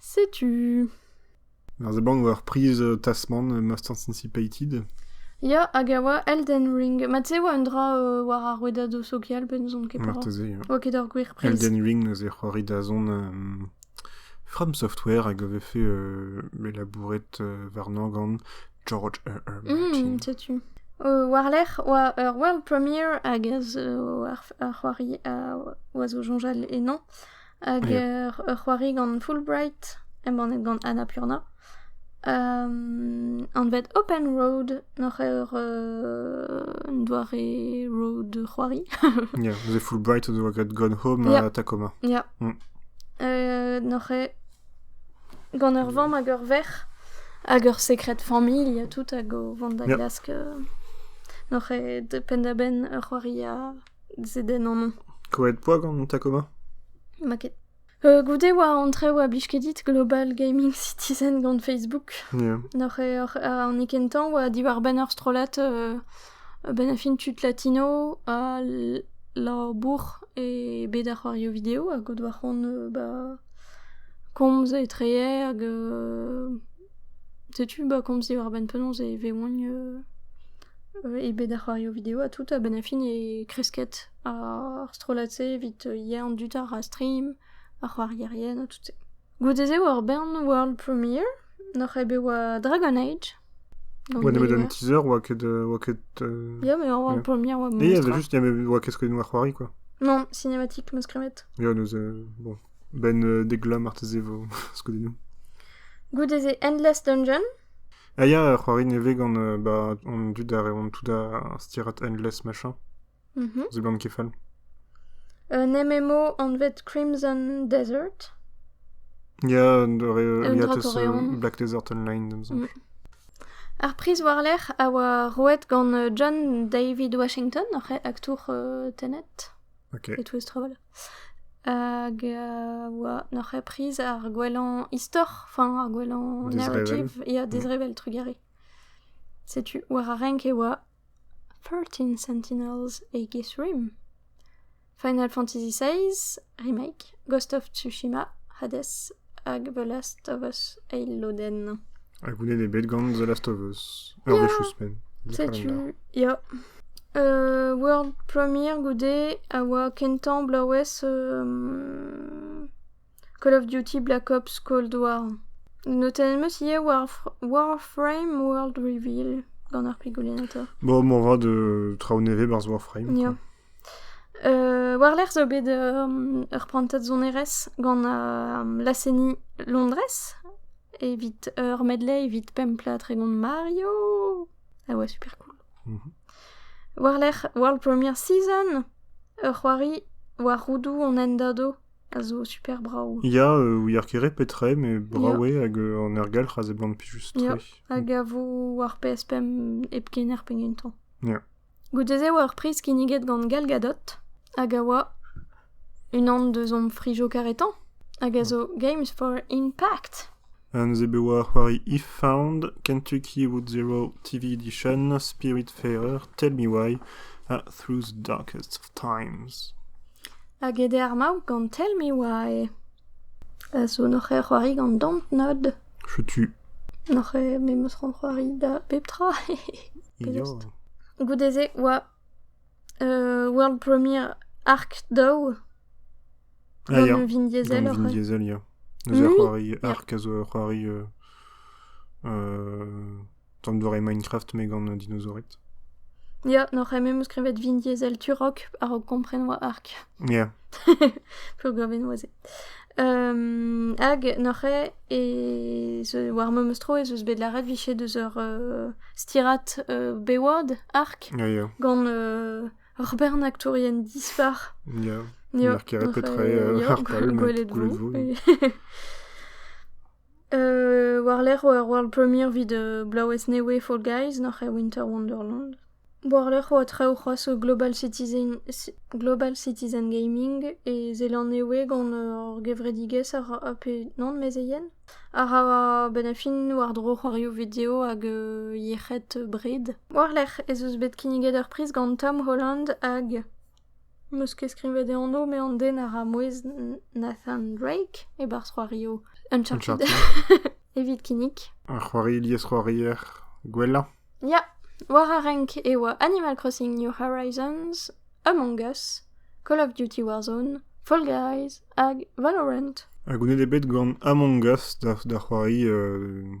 [SPEAKER 1] Setu.
[SPEAKER 2] Ar zabank
[SPEAKER 1] war priz euh, Tasman, Masters Anticipated. Ya, hag
[SPEAKER 2] a oa Elden Ring. Mat-se e oa un dra euh, war ar rouedad sokial, bet n'ouzon ket petra. Marteze, ja. Ok, d'ur gwir
[SPEAKER 1] priz. Elden
[SPEAKER 2] Ring neuze c'hoari
[SPEAKER 1] da zon euh, From Software hag a ve fait euh, mais labouret euh, warnañ gant George R. R. Martin. Mm, setu. Euh,
[SPEAKER 2] war-lerc'h oa ur world premiere hag az euh, ar, ar c'hoari a oa zo soñjal ennañ. Hag ur c'hoari gant Fulbright, embannet gant Annapurna. anvet Open Road, n'oc'h eur un doare road c'hoari. yeah, the
[SPEAKER 1] Fulbright o doa graet Gone Home yeah. ha Tacoma. Ya. Yeah.
[SPEAKER 2] Mm. Uh, n'oc'h gant ur vamm hag ur verc'h hag ur secret familh tout hag o vont da glask uh, n'oc'h de penn-da-benn ur c'hoari a Zedenn anv. Krouet poa gant
[SPEAKER 1] Tacoma Ma ket.
[SPEAKER 2] Euh, goude oa an traoù a blij ket dit Global Gaming Citizen gant Facebook. Yeah. Noc'h eo
[SPEAKER 1] oc'h- an
[SPEAKER 2] e kentañ oa diwar banner strollad euh, benn a fin tud latino ha l- labour e bed ar c'hoarioù video hag o doa c'hoant euh, ba komz etrehe hag euh, Setu bah komz eo a-benn penaos e vegont e bed ar c'hoario video ha tout a-benn ar fin e kresket ar strollad-se evit yellañ an dud àr ar stream, ar c'hoarierien ha tout-se. Goude-se e oa ur bern world premiere, n'oc'h ket bet oa Dragon Age. Ouais, nemet
[SPEAKER 1] un teaser oa ket... oa ket Ya,
[SPEAKER 2] mais world premiere oa memestra. Il y avait
[SPEAKER 1] juste... oa ket skoet
[SPEAKER 2] noa
[SPEAKER 1] c'hoari quoi. Non, cinématique
[SPEAKER 2] meus kremet. Ya, neus...
[SPEAKER 1] bon... benn dek vloaz marteze vo skeudennoù. Goude-se
[SPEAKER 2] Endless Dungeon Ah ya,
[SPEAKER 1] c'hoari nevez gant ba, an dud a reont tout da stirat Endless machin. Mhm. Zo gant kefal.
[SPEAKER 2] Un MMO anvet Crimson Desert. Ya,
[SPEAKER 1] dore, Un ya
[SPEAKER 2] teus drakorean. euh, Black Desert Online,
[SPEAKER 1] da m'zank. Ar
[SPEAKER 2] priz war-lerc'h a oa roet gant euh, John David Washington, oc'h aktour euh, Tenet Ok. e Twist
[SPEAKER 1] Travel.
[SPEAKER 2] Hag a oa n'oc'h ket priz ar gwellañ istor, enfin ar gwellañ narrative ya
[SPEAKER 1] dezrevell
[SPEAKER 2] trugarez. Setu war ar renk e oa Thirteen Sentinels Aegis Rim, Final Fantasy XVI, remake, Ghost of Tsushima, Hades Hag The Last of Us eil lodenn. Ha goulenn eo
[SPEAKER 1] bet gant The Last of Us. Ur wech ouzhpenn. Setu,
[SPEAKER 2] ya. Uh, world premiere goude a oa kentañ bloavezh um, Call of Duty Black Ops Cold War. Notenn eus ivez War Warframe World Reveal gant ar prigolinator. Bon, bon, va de
[SPEAKER 1] traoù nevez barzh Warframe. Yeah.
[SPEAKER 2] War-lerc'h zo bet ur prantad sonerezh gant laz-seniñ Londrez evit ur medley evit pemp plat tregont Mario a oa super cool. War-lerc'h World Premiere Season ur c'hoari war roudoù an hendado a zo super brav. Ya, ouier ket
[SPEAKER 1] re petra eo met brav eo hag an ergelc'h a seblant plijus-tre. Ya, hag a
[SPEAKER 2] vo war PS5 hep kener pegen tamm. Ya.
[SPEAKER 1] Goude-se e oa ur
[SPEAKER 2] priz kinniget gant Gal Gadot, hag a oa unan deus hom frijoù karetañ, hag a zo Games for Impact. Neuze bet
[SPEAKER 1] oa c'hoari If-Found, Kentucky Route Zero TV Edition, Spirit Fair, Tell Me Why, ha Through the Darkest of Times. Hag
[SPEAKER 2] ede ar maout gant Tell Me Why. A zo n'oc'h ket c'hoari gant Dontnod. Setu.
[SPEAKER 1] N'oc'h ket me
[SPEAKER 2] 'm eus ranc'hoari da bep tra. Penaos
[SPEAKER 1] 'ta? Goude-se
[SPEAKER 2] 'oa euh, World Premiere Arc Daou. Ah
[SPEAKER 1] gant ya. euh, Vin Diesel Gant Vin oc'h.
[SPEAKER 2] Diesel, ya.
[SPEAKER 1] Neuze ur c'hoari arc
[SPEAKER 2] a zo
[SPEAKER 1] ur c'hoari
[SPEAKER 2] euh,
[SPEAKER 1] euh, An doare Minecraft me gant an dinosaored. Ya,
[SPEAKER 2] n'oc'h eme em eus skrivet vin yezhel turok a-raok kompren oa ark. Ya.
[SPEAKER 1] Peogwir
[SPEAKER 2] vin oa se. Um, hag n'oc'h eo e ze- war ma meus tro ez eus bet lâret viche deus ur uh, stirad uh, Bayward ark Ya, ya. gant
[SPEAKER 1] uh,
[SPEAKER 2] ur bernaktourien dispar. Ya. Ya, N'er
[SPEAKER 1] keret n'oc'h
[SPEAKER 2] petra eo eo,
[SPEAKER 1] euh, ya, harpal
[SPEAKER 2] met
[SPEAKER 1] gwelet gwelet
[SPEAKER 2] vo. et- War-lerc'h oa ur world premiere evit bloavezh nevez Fall Guys nac'h eo Winter Wonderland. War-lerc'h oa traoù c'hoazh zo Global Citizen Global Citizen Gaming e Zeland-Nevez gant ur gevredigezh a ra a pe nann mezeien a ra a-benn ar fin war-dro c'hoarioù video hag yec'hed bred. War-lerc'h ez eus bet kinniget ur priz gant Tom Holland hag... 'meus ket skrivet e anv met an den a ra mouezh Nathan Drake e-barzh c'hoario Uncharted evit kinnig. Ar c'hoari
[SPEAKER 1] liesc'hoarier gwellañ. Ya,
[SPEAKER 2] war ar renk e oa Animal Crossing New Horizons, Among Us, Call of Duty Warzone, Fall Guys hag Valorant. Ha goulenn eo bet
[SPEAKER 1] gant Among Us da, da c'hoari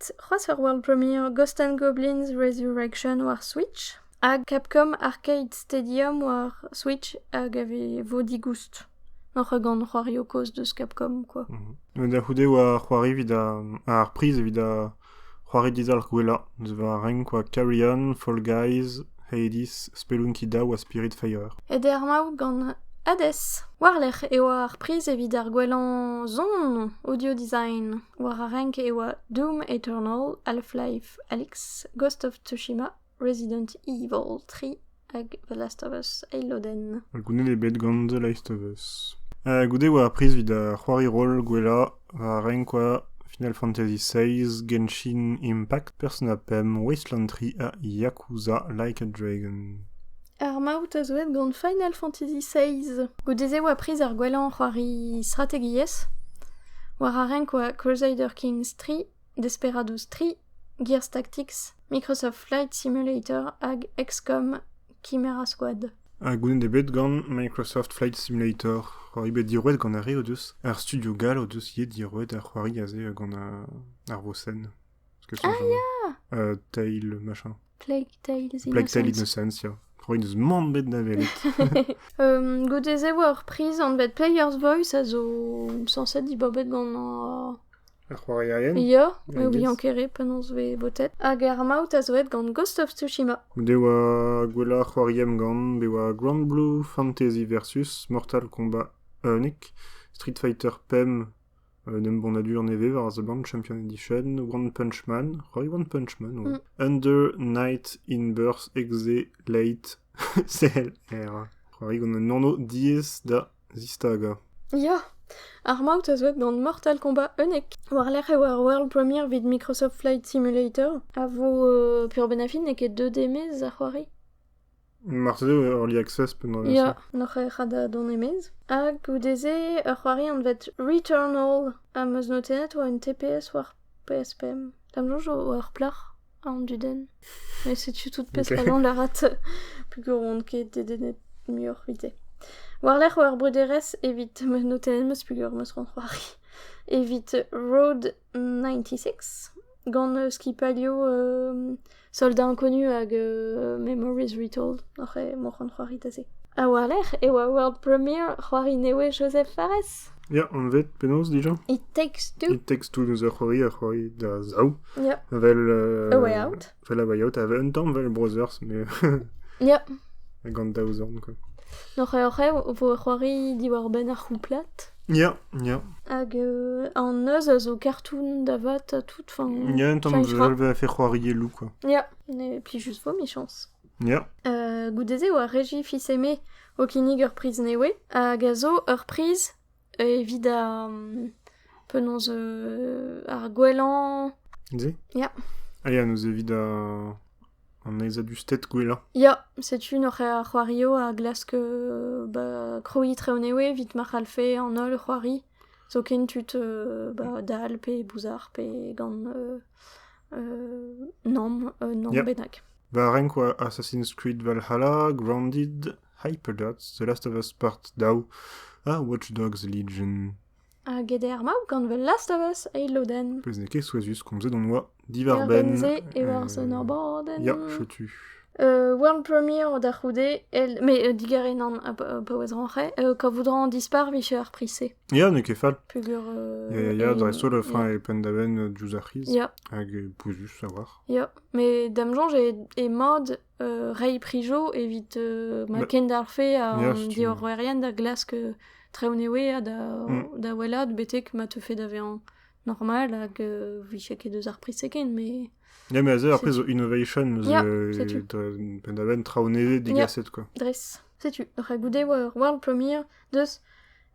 [SPEAKER 2] c'hoazh ur world premiere Ghost and Goblins Resurrection war Switch ha Capcom Arcade Stadium war Switch hag a vo digoust. Oc'h gant c'hoario kozh deus Capcom quoi. Mhm. Da c'houde
[SPEAKER 1] war c'hoari evit ar priz evit da c'hoari dizalc'h gwellañ deus war renk quoi Carrion, Fall Guys, Hades, Spelunky Daw ha Spirit Fire. Et er maout
[SPEAKER 2] gant Hades. Warlec'h eo ar priz evit ar gwellañ zon audio design. War ar renk e oa Doom Eternal, Half-Life Alyx, Ghost of Tsushima, Resident Evil 3 hag The Last of Us eil lodenn. Goude eo bet gant
[SPEAKER 1] The Last of Us. Uh, goude oa ar priz evit ar c'hoari roll gwellañ war ar renk oa Final Fantasy XVI, Genshin Impact, Persona 5, Wasteland 3 ha Yakuza Like a Dragon. Ar maout
[SPEAKER 2] a zo aet gant Final Fantasy XVI. Goude-se e oa priz ar gwellañ c'hoari strategiezh, war ar renk oa Crusader Kings 3, Desperados 3, Gears Tactics, Microsoft Flight Simulator hag XCOM Chimera Squad. Ha goulenn eo bet
[SPEAKER 1] gant Microsoft Flight Simulator. C'hoari bet diorroet gant ar re o deus. Ar studio gall o deus ivez diorroet ar c'hoari aze gant ar vosenn. Ah ya euh, Tale, machin.
[SPEAKER 2] Plague Tale Innocence.
[SPEAKER 1] Plague Tale Innocence, ya. Roin eus mand bet da welet. um, goude-se
[SPEAKER 2] oa ur priz an bet Player's Voice a zo sañset dibabet gant ar c'hoarierien.
[SPEAKER 1] Ya, me oublian kere
[SPEAKER 2] penaos ve botet. Hag ar maout a zo et gant Ghost of Tsushima. Be oa
[SPEAKER 1] gwella c'hoariem gant, be oa Grand Blue Fantasy versus Mortal Kombat Unic, Street Fighter Pem Un embannadur nevez war a seblant Champion Edition One Punch Man. Roy One Punch Man oa. Under Night in Birth Exe Late CLR. C'hoari gant un anv diaes da zistagañ. Ya!
[SPEAKER 2] Ar maout a zo gant Mortal Kombat Unique, war-lerc'h e oa ar world premiere evit Microsoft Flight Simulator, a vo uh, pur benefit n'eo ket 2D mez a c'hoari. Marteze
[SPEAKER 1] eo Early Access pennañ Ya, n'oc'h ket ret
[SPEAKER 2] dont e-maez. Hag goude-se, ur c'hoari anvet Returnal am eus notennet oa un TPS war PS5. D'am soñj oa ur plac'h, an dudenn. Met setu tout pesk Ok. allan lâret peogwir oan ket dedennet muioc'h evite. War-lerc'h oa ur brederez evit... ma notennet 'm eus peogwir 'm eus c'hoant c'hoari. Evit Road 96, gant uh, skipalio uh, Soldat Inconnu hag uh, Memories Retold, oc'h eo moc'han c'hoaritase. A-walc'h e oa world premiere c'hoari newe Joseph Fares. Ya, anvet
[SPEAKER 1] penaos dija? It Takes Two.
[SPEAKER 2] It Takes Two n'eus ur c'hoari
[SPEAKER 1] a c'hoari da zaou. Ya. Vel...
[SPEAKER 2] Uh, A Way
[SPEAKER 1] Out. Fel
[SPEAKER 2] a bayaot a un
[SPEAKER 1] tamm vel Browsers, mais... Ya.
[SPEAKER 2] Gant daou
[SPEAKER 1] zorn, quoi. N'oc'h-oc'h e
[SPEAKER 2] vo c'hoari diwar-benn ar c'houplad. Ya, ya.
[SPEAKER 1] Hag
[SPEAKER 2] euh, an neuz a zo kartoun da vat ha tout, fin... Ya, un tamm vel va
[SPEAKER 1] fait c'hoarier loup, quoi. Ya, et puis
[SPEAKER 2] juste vo michans. Ya. Euh,
[SPEAKER 1] goude-se oa
[SPEAKER 2] Regi Fiseme o kinnig ur priz newe, hag a zo ur priz Evit ar... penaos ar gwellañ... Se Ya.
[SPEAKER 1] Ah
[SPEAKER 2] ya, neuze evit
[SPEAKER 1] a- an aezadusted gwellañ. Ya, setu
[SPEAKER 2] n'oc'h a c'hoario a glask euh, ba, kroiñ Treonewe evit ma c'hallfe an holl c'hoari. Zoken tud euh, ba, dall pe bouzar pe gant euh, euh, nom, euh, nom Yeah. bennak.
[SPEAKER 1] Va renk
[SPEAKER 2] oa
[SPEAKER 1] Assassin's Creed Valhalla, Grounded, Hyperdots, The Last of Us Part Daou ha Watch Dogs Legion. Hag ede ar
[SPEAKER 2] maou gant The Last of Us eil lodenn. Pezh n'eo ket souezhus
[SPEAKER 1] komzet on oa divarbenn. Divarbenn e war son
[SPEAKER 2] ar bordenn. Ya, chetu.
[SPEAKER 1] Euh, world
[SPEAKER 2] Premiere da c'houde, el... mais euh, digare nan a paouez ranche, euh, quand voudran dispar miche ar prissé. Ya, ne ket fall.
[SPEAKER 1] Pugur... Euh, ya,
[SPEAKER 2] ya, ya,
[SPEAKER 1] dreistol e fin e pen da ben diouz ar c'hiz, hag
[SPEAKER 2] pouzus
[SPEAKER 1] a war. Ya, mais dam
[SPEAKER 2] jonge e, e mod reiñ prijo evit ma kendalc'hfe an diorroerien da
[SPEAKER 1] glask
[SPEAKER 2] treonewe ha da wellaat betek ma teufe da vezañ normal hag vije ket eus ar priz ken mais... Ya, mais aze, après,
[SPEAKER 1] innovation,
[SPEAKER 2] pendaven,
[SPEAKER 1] traonevet, digaset, quoi. Dres. Setu,
[SPEAKER 2] goude war World Premiere, deus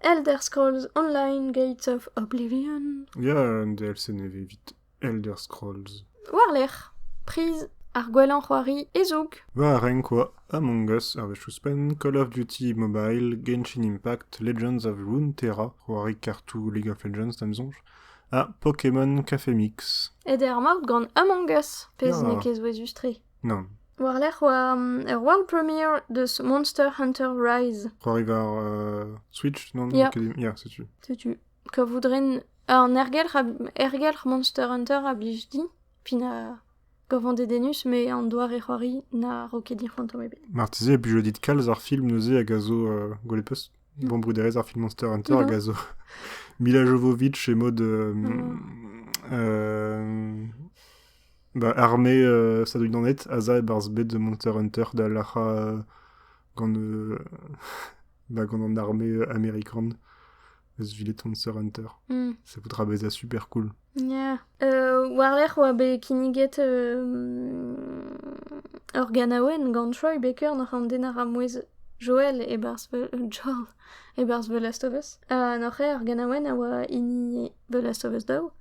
[SPEAKER 2] Elder Scrolls Online Gates of Oblivion. Ya, un DLC
[SPEAKER 1] nevez vite. Elder Scrolls. War-lerc'h,
[SPEAKER 2] priz ar gwellañ c'hoari e-zoug. War a renk oa
[SPEAKER 1] Among Us ur wech ouzhpenn, Call of Duty Mobile, Genshin Impact, Legends of Runeterra, c'hoari kartoù League of Legends da'm soñj, ha Pokémon Café Mix. Et er maout gant
[SPEAKER 2] Among Us, pezh Ya. n'eo ket souezhus-tre. Non, War-lerc'h
[SPEAKER 1] oa
[SPEAKER 2] um, ur world premiere deus Monster Hunter Rise. c'hoari war
[SPEAKER 1] euh, Switch, non? Ya. Academy- Ya, setu.
[SPEAKER 2] Setu.
[SPEAKER 1] kavout
[SPEAKER 2] ren an ergelc'h a ergelc'h Monster Hunter a blij din pe na gavan dedennus met an doare c'hoari na ro ket din fantom ebet. Marteze e blij dit kalz
[SPEAKER 1] ar film neuze hag a zo euh, Golepus, bon bruderezh ar film Monster Hunter hag a zo Mila Jovovich et mode euh, euh, bah, armée euh, ça doit d'en être Asa ebarzh bet de Monster Hunter da lac'ha euh, gant euh, bah, gant an armée euh, américaine eus Villeton Sir Hunter. Mm. Ça voudra bezañ super cool. Yeah.
[SPEAKER 2] Euh, War-lerc'h oa bet kinniget euh, ur ganaouenn gant Troy Baker noc'h an den a ra mouezh Joel e-barzh Joel e-barzh The Last of Us. Uh, noc'h eo ur ganaouenn a oa hini The Last of Us daou.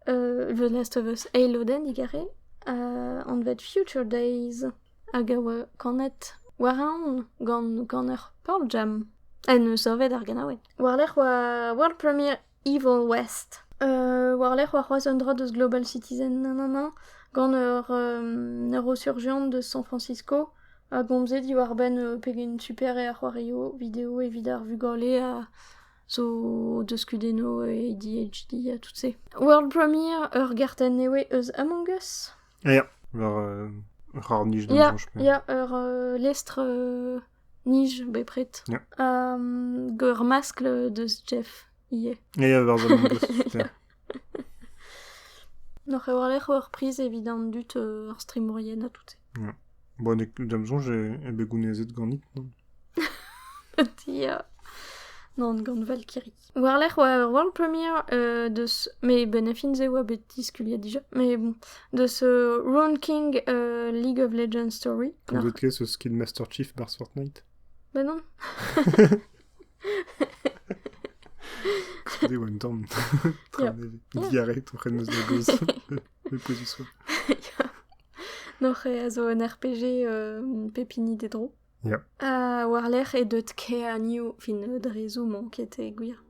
[SPEAKER 2] The Last of Us eil lodenn digarez, anvet Future Days, hag a oa kanet war-eeun gant ganer Pearl Jam, en deus savet ar ganaouenn. War-lerc'h oa world premiere Evil West. war-lerc'h oa c'hoazh un dra deus Global Citizen, nanana, gant ur neurosurjian deus San Francisco a gomze diwar-benn pegen super eo ar c'hoarioù video evit ar vugale ha zo deus kudennoù e DHD ha tout-se. World Premiere, ur gartenn newe eus Among Us. Ya, war
[SPEAKER 1] euh, ur c'harr-nij da Ya, ya ur euh,
[SPEAKER 2] lestr euh, nij bepred.
[SPEAKER 1] Ya. Um, ur
[SPEAKER 2] maskl deus Jeff ivez. Ya, ya, war Among
[SPEAKER 1] Us, super.
[SPEAKER 2] N'oc'h a-walc'h ur priz evit an dud, euh, ar strimourien ha tout-se. Bon,
[SPEAKER 1] d'am soñj eo bet gounezet ganit, non?
[SPEAKER 2] Dia. Non, gant Valkyrie. War-lerc'h oa ur world premiere euh, deus... Mais benefins e oa bet diskuliet dija. Mais bon, deus euh, Roan King euh, League of Legends Story. Vous êtes eus
[SPEAKER 1] Kidmaster Chief Bars Fortnite Bah non Trede eo un tamm tra nevez. Diarrhée, o c'hen eus da gozh. E pouez du soir.
[SPEAKER 2] Noc'h a zo un RPG euh, pep hini d'e dro. Yeah. Ha
[SPEAKER 1] war-lerc'h
[SPEAKER 2] e deut Care New, fin dre zoom, qui était gwir.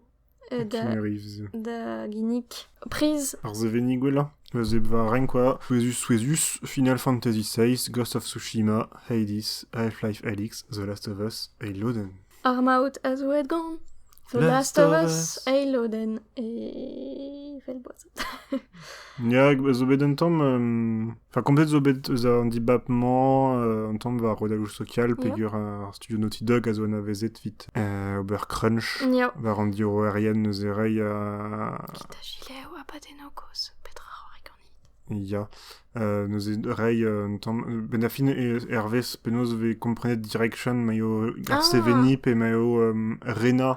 [SPEAKER 1] da ginnig
[SPEAKER 2] priz. Ar sevennig gwellañ
[SPEAKER 1] a zep war renk kwa souezhus-souezhus Final Fantasy VI, Ghost of Tsushima, Hades, Half-Life Alyx, The Last of Us, Haloden. Armaout a zo
[SPEAKER 2] gant The Last, of Us, Haloden, e vel boaz.
[SPEAKER 1] Ya, zo bet un tamm... Enfin, komplet zo bet eus an dibab-mañ un tamm war redagloù sokial peger ar studio Naughty Dog a zo anavezet evit ober crunch war an
[SPEAKER 2] diorroerien
[SPEAKER 1] neuze reiñ a... Kita gilev
[SPEAKER 2] ha padenogos, petra c'hoari ganit? Ya,
[SPEAKER 1] neuze reiñ un tamm... Ben a fin hervez penaos 'vez komprenet direction maio ar seveniñ pe maio Rena.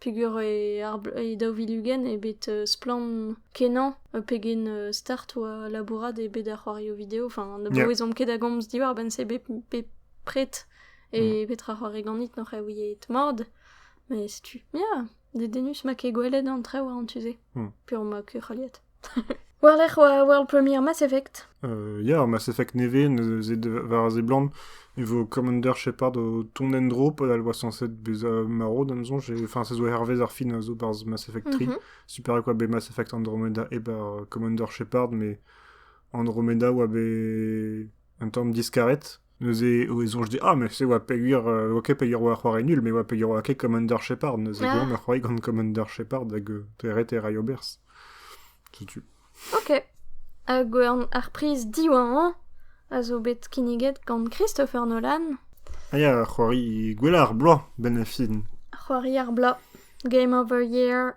[SPEAKER 2] peger e daou vil ugent eo bet splann kenañ pegen start oa labourat eo bet ar c'hoarioù video enfin ne bouezomp ket da gomz diwar-benn-se bepred e mm. petra c'hoari ganit n'oc'h ouiet mord mais setu ya dedennus ma ket gwelet an traoù war an tu-se mm. pur ma kurc'holiet War-lerc'h war World Premiere Mass Effect. Euh, yeah, Mass Effect
[SPEAKER 1] nevez, war seblant, e vo Commander Shepard o tont en dro, pa elle voit censé être beza marro, d'un son, enfin, ça zo hervez ar fin a zo barz Mass Effect 3. Mhm. Super quoi, be Mass Effect Andromeda e bar Commander Shepard, mais Andromeda oa be un tamm diskaret. Neuze e soñj dit, ah, mais c'est oa peogwir, euh, ok, peogwir oa c'hoari nul, mais oa peogwir oa ket Commander Shepard. Neuze ah. gant a c'hoari gant Commander Shepard hag euh, teret e ray obers. Setu. Ok.
[SPEAKER 2] Hag ar priz diwañ a zo bet kinniget gant Christopher Nolan. Ah ya, c'hoari
[SPEAKER 1] gwella ar bloaz, ben a fin. C'hoari ar bloaz.
[SPEAKER 2] Game of the Year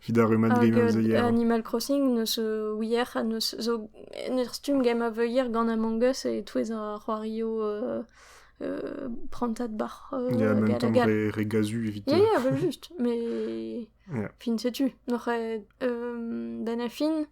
[SPEAKER 2] He
[SPEAKER 1] da rummad gant am zeier. Animal Crossing neus
[SPEAKER 2] ouier ha neus zo neus stumm gem a veuier gant Among Us e touez ar c'hoario euh, euh, prantad bac'h euh, Ya, en même temps re,
[SPEAKER 1] re gazu evit...
[SPEAKER 2] Ya, ya,
[SPEAKER 1] vel juste, mais...
[SPEAKER 2] Yeah. Fin setu.
[SPEAKER 1] Noc'h
[SPEAKER 2] da na fin,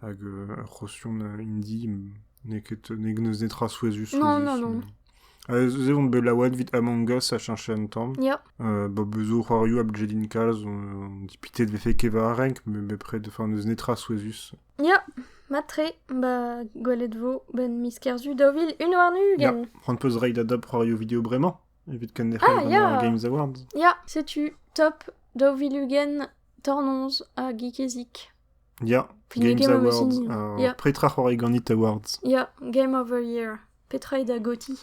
[SPEAKER 1] hag ur c'hostiom hindi n'eo ket n'eus netra souezhus
[SPEAKER 2] ez
[SPEAKER 1] on bet laouen 'vit Among Us a cheñche un tamm ba
[SPEAKER 2] zo c'hoarioù
[SPEAKER 1] a bjelin kalz on dipitet 'vefe ket war ar renk met bepred n'eus netra souezhus ya
[SPEAKER 2] mat-tre ba gwelet 'vo 'benn miz Kerzu daou vil un warn-ugent prend peus reiñ da dab
[SPEAKER 1] c'hoarioù video bremañ evit kenderc'hel gant ar Games
[SPEAKER 2] Awards ya
[SPEAKER 1] setu
[SPEAKER 2] top daou vil ugent tornoz ha geekezik Ya,
[SPEAKER 1] Games Awards. Uh, Petra
[SPEAKER 2] c'hoari ganit
[SPEAKER 1] Awards Ya, Game of the
[SPEAKER 2] Year. Petra eo da goti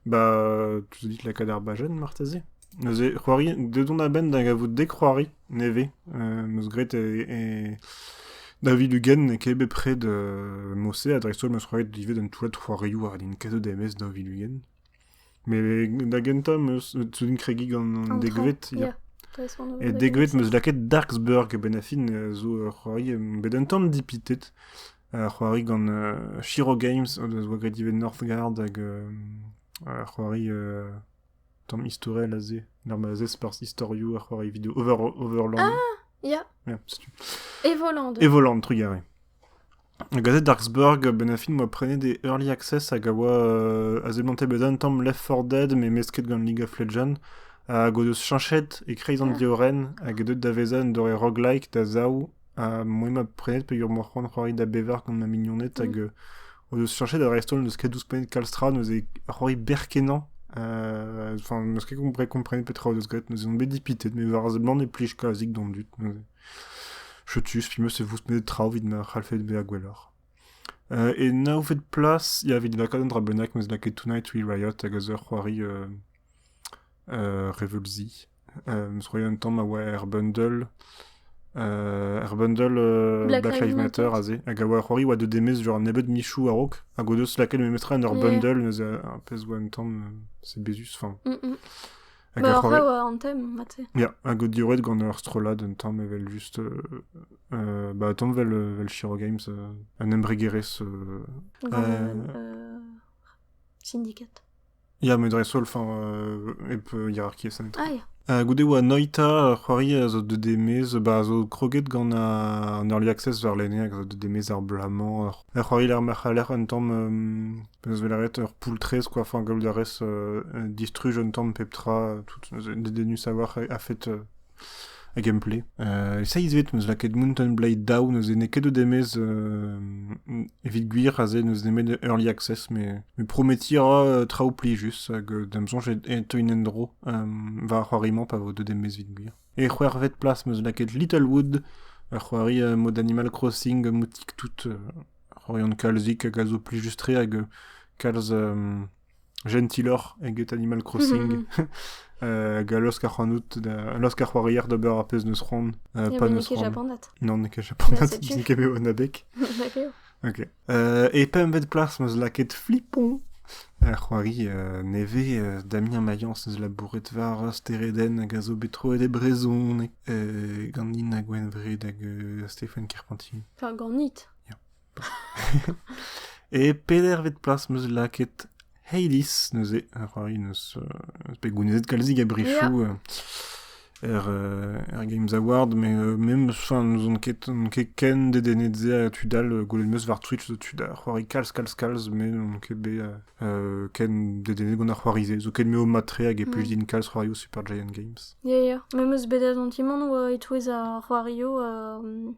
[SPEAKER 2] Bah,
[SPEAKER 1] tu te dis lakaat ar bajen marteze Neuze, c'hoari, dedon a-benn da gavout dek c'hoari nevez. Euh, meus graet e, e David Hugen e kebe près de Mossé, a dreist-holl meus c'hoaret ivez d'un toulat c'hoarioù war din kaset DMS David Hugen. Met da gentañ 'm eus zo din kregiñ gant an degved ya. E degved 'm eus lakaet Darksburg a-benn ar fin zo ur c'hoari 'm bet un tamm dipitet. Ur c'hoari gant Shiro Games o deus 'oa graet ivez Northgard hag ur c'hoari tamm istorel aze. Ur mazhez perzh istorioù, ur c'hoari video overland. Ah! Ya!
[SPEAKER 2] Ya, setu.
[SPEAKER 1] Evoland.
[SPEAKER 2] Evoland, trugarez.
[SPEAKER 1] Gazet Darksburg a-benn ar fin 'oa prenet e Early Access hag a oa a seblante bezañ un tamm Left 4 Dead mesket gant League of Legends hag o deus cheñchet e-kreiz an diorren hag eo deuet da vezañ un doare roguelike da zaou ha moi 'ma prenet peogwir 'oa c'hoant c'hoari da bevar gant ma mignoned hag o deus cheñchet ha dreist-holl n'eus ket ouzhpennet kalz tra neuze c'hoari berr-kenañ enfin n'eus ket komprenet petra o deus graet neuze on bet dipitet met war a seblant e plij kalzik d'an dud neuze. Chetus, pimeus e voust nedet traoù evit ma c'hallfed bezañ gwelloc'h. E naonvet plas, ya, evit lakaat un dra bennak, m'eus lakaet Tonight We Riot hag eus ur c'hoari euh, euh, reveulzi. Euh, m'eus roet un tamm a oa er bundle, euh, er bundle euh, Black Lives Matter aze, hag a oa ur c'hoari a oa de demez genre nebeut michoù a-raok, hag o deus lakaet memetra en ur Yeah. bundle, neuze un pezh oa un tamm, euh, c'est bézus, enfin... Mm, mm. Ma orav an
[SPEAKER 2] tem, mate. Ya, hag o diorret
[SPEAKER 1] gant ur strollad un tamm evel just... Euh, bah, tamm vel, vel Shiro Games, euh, un embregerezh... Euh,
[SPEAKER 2] euh...
[SPEAKER 1] Syndicat. Ya, met dreist-holl, enfin, euh, hep hierarchiezh anezho. Ah, ya. Uh, goude oa
[SPEAKER 2] Noita,
[SPEAKER 1] c'hoari a zo de demez, ba zo kroget gant an early access var lene, a zo de demez ar bla-mañ. C'hoari ler marc'h a lec'h un tamm um, Peus bet lâret ur poull-traezh koafañ gaout a rez distruj un tamm pep tra tout dedennus a-walc'h a-fet a gameplay. Euh, e-seiz evit m'eus lakaet Mountain Blade daou, n'eus ene ket o demez evit gwir aze n'eus nemet early access, mais, mais prometi ra traoù plijus hag da'm soñj e teuin en-dro war c'hoari-mañ pa vo deut demez evit gwir. E c'hwec'hvet plas 'm eus lakaet Littlewood, ur c'hoari mod Animal Crossing moutik-tout, ur c'horian kalzik hag a zo plijus-tre hag kalz jentiloc'h eget Animal Crossing. hag a laosk ac'hanout, a laosk ar c'hoarier d'ober ar pezh n'eus c'hoant, pa n'eus c'hoant. Japanat. Non, n'eo ket
[SPEAKER 2] japanat,
[SPEAKER 1] n'int ket bet an abeg. Ok. E pempvet plas 'm eus lakaet Flipon, ar c'hoari nevez Damien Mayence 'neus labouret war steredenn hag a zo bet troet e brezhoneg ganin ha Gwenvred hag Stéphane Carpentier. Peurganit. E pedervet plas 'm eus lakaet Hades, neuze, a ra eus bet gounezet kalzik a brichoù er, er Games Award, mais même enfin n'ouzon ket, ket ken dedennet se a tud all gwelet meus war Twitch tud ar c'hoari kalz kalz kalz mais n'on ket bet ken dedennet gant ar c'hoari se zo ket me o matre hag e plus din kalz c'hoarioù Super Giant Games. Ya ya, mais meus bet
[SPEAKER 2] a zantimant oa e-touez ar c'hoarioù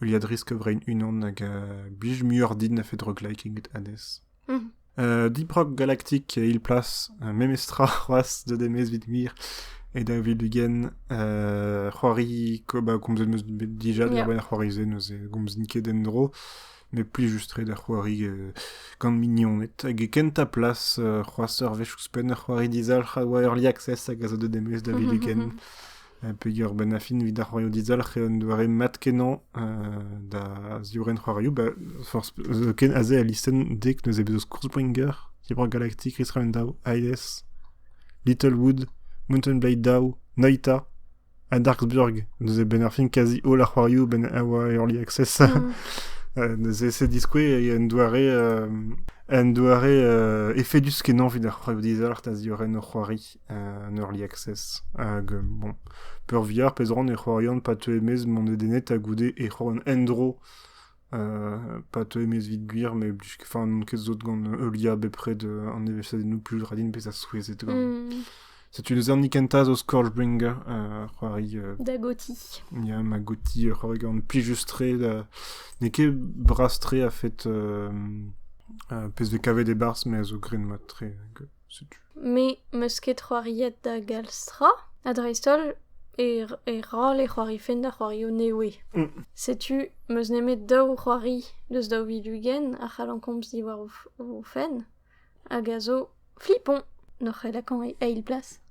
[SPEAKER 1] Heuliadrisk a-vrein unan hag a blij muioc'h din a-fet rogueliking anez. Mhm. Euh, Deep Rock Galactic il-plas, euh, memes tra c'hoazh da demez evit gwir, e da vildugen. Euh, c'hoari, ko- ba, komzet meus dija Yeah. diwar-benn ar c'hoari-se, neuze gomzin ket en-dro, met pli just ret ar c'hoari euh, gant mignoned. Hag e kentañ plas euh, c'hoazh ur wech ouzhpenn ar c'hoari dizalc'h a oa Early Access hag a zo da demez da vildugen. Peger benn-a-fin evit ar c'hoarioù dizalc'h eo un doare mat-kenañ da ziorren c'hoarioù ba forzh ken aze al listenn dek neuze bez eus Kurzbringer, Cyber Galactic, Riskan daou, Hades, Little Wood, Mountain Blade daou, Noita ha Darksburg. Neuze benn-ar-fin kazi holl ar c'hoarioù benn a oa Early Access. neuze c'est diskouez e un doare un doare efedus kenañ evit ar c'hoarioù dizalc'h da ziorren o c'hoari. en early access hag bon peurvia pezh ran e c'hoarian pa teu e-maez mont dedennet ha goude e c'hoarian en-dro pa teu e-maez evit gwir met enfin n'on ket sot gant heuliañ bepred an evezhiadennoù plus ra din bezañ souezhet gant mm. Setu neuze an ikentañ zo Scourgebringer, uh, c'hoari... Uh, Dagoti.
[SPEAKER 2] Ya, Magoti,
[SPEAKER 1] uh, c'hoari gant plijus-tre. Uh, N'eo ket bras-tre a fait uh, uh, pezh vez kavet e barzh, mais a zo gren mat-tre. Me 'meus
[SPEAKER 2] ket c'hoariet da galz tra, ha dreist-holl e ra le c'hoarifen da c'hoario newe. Setu 'meus nemet daou c'hoari deus daou vil-ugent a c'hallan komz diwar o fenn, hag a zo flipoñ, n'oc'h ket lakaet eil plas.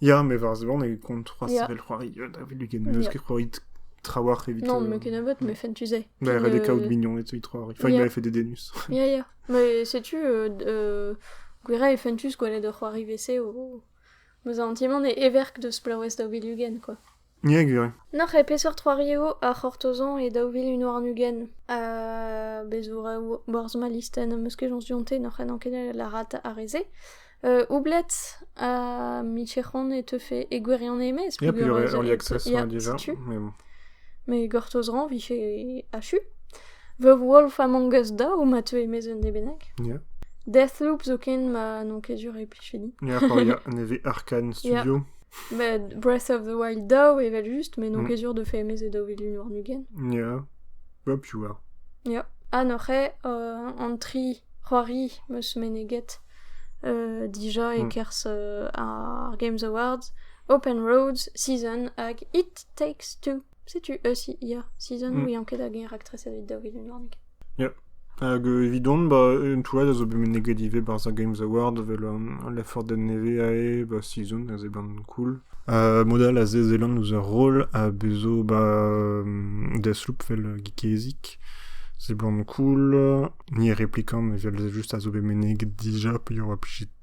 [SPEAKER 2] Ya, mais varzhvan eo
[SPEAKER 1] kont c'hoazh Ya. sevel c'hoari euh, da
[SPEAKER 2] welet
[SPEAKER 1] ugent n'eus ket c'hoari trawalc'h evit... Non, euh, mais ken a bot, mais fent
[SPEAKER 2] tu sais. Da ret eo kaout mignoned
[SPEAKER 1] evit c'hoari. Enfin, il Yeah. m'avait fait des dénus. Ya, ya. Mais
[SPEAKER 2] sais-tu, euh, euh, gwira e fentus gwelet ur c'hoari WC o... Bezañ an ti-man e everk deus plaouest da Willugen, quoi. N'eo gwir.
[SPEAKER 1] Nac'h e peseurt c'hoari
[SPEAKER 2] eo ar c'hortozan e daou vil un warn-ugent. Ha bez' zo reoù borzh ma listenn am eus kejañs dionte n'oc'h ket ket lârat ar re-se. Euh, Oublet ha Micheron e teufe e gwirionez e-maez. Ya, puis Pugur Early Access
[SPEAKER 1] ya, déjà. setu. Mais bon. Mais
[SPEAKER 2] gortozran vije achu. The Wolf Among Us daou ma teu e-maez un debennek. Ya.
[SPEAKER 1] Deathloop zo
[SPEAKER 2] ken ma n'on ket sur e plijfe din. Ya, pa ya, ne
[SPEAKER 1] vez Arkane Studio. Met Breath
[SPEAKER 2] of the Wild daou evel-just, mais n'on Mm. ket
[SPEAKER 1] sûr
[SPEAKER 2] de faire mes daou vilun warn-ugent. Ya. Ja, piv a? Ya. Ha noc'he euh, an tri c'hoari meus meneget euh, dija Mm. e-kerzh
[SPEAKER 1] euh,
[SPEAKER 2] ar Games Awards, Open Roads Season hag It Takes Two. Setu eus ia season mm. ouian ket hag eñ raktreset evit daou vilin warnek. Yeah. Hag
[SPEAKER 1] euh, evidon, ba, un toullad a zo bet meneget ivez barzh ar Games Award evel um, lefordenn nevez ae ba season, a zeban cool. Uh, modal a zezelan ouzh ur roll a bezo ba um, Deathloop vel uh, geezik. Seblant cool. Ni replikan evel juste a zo bet meneget dija, pe a oa plijit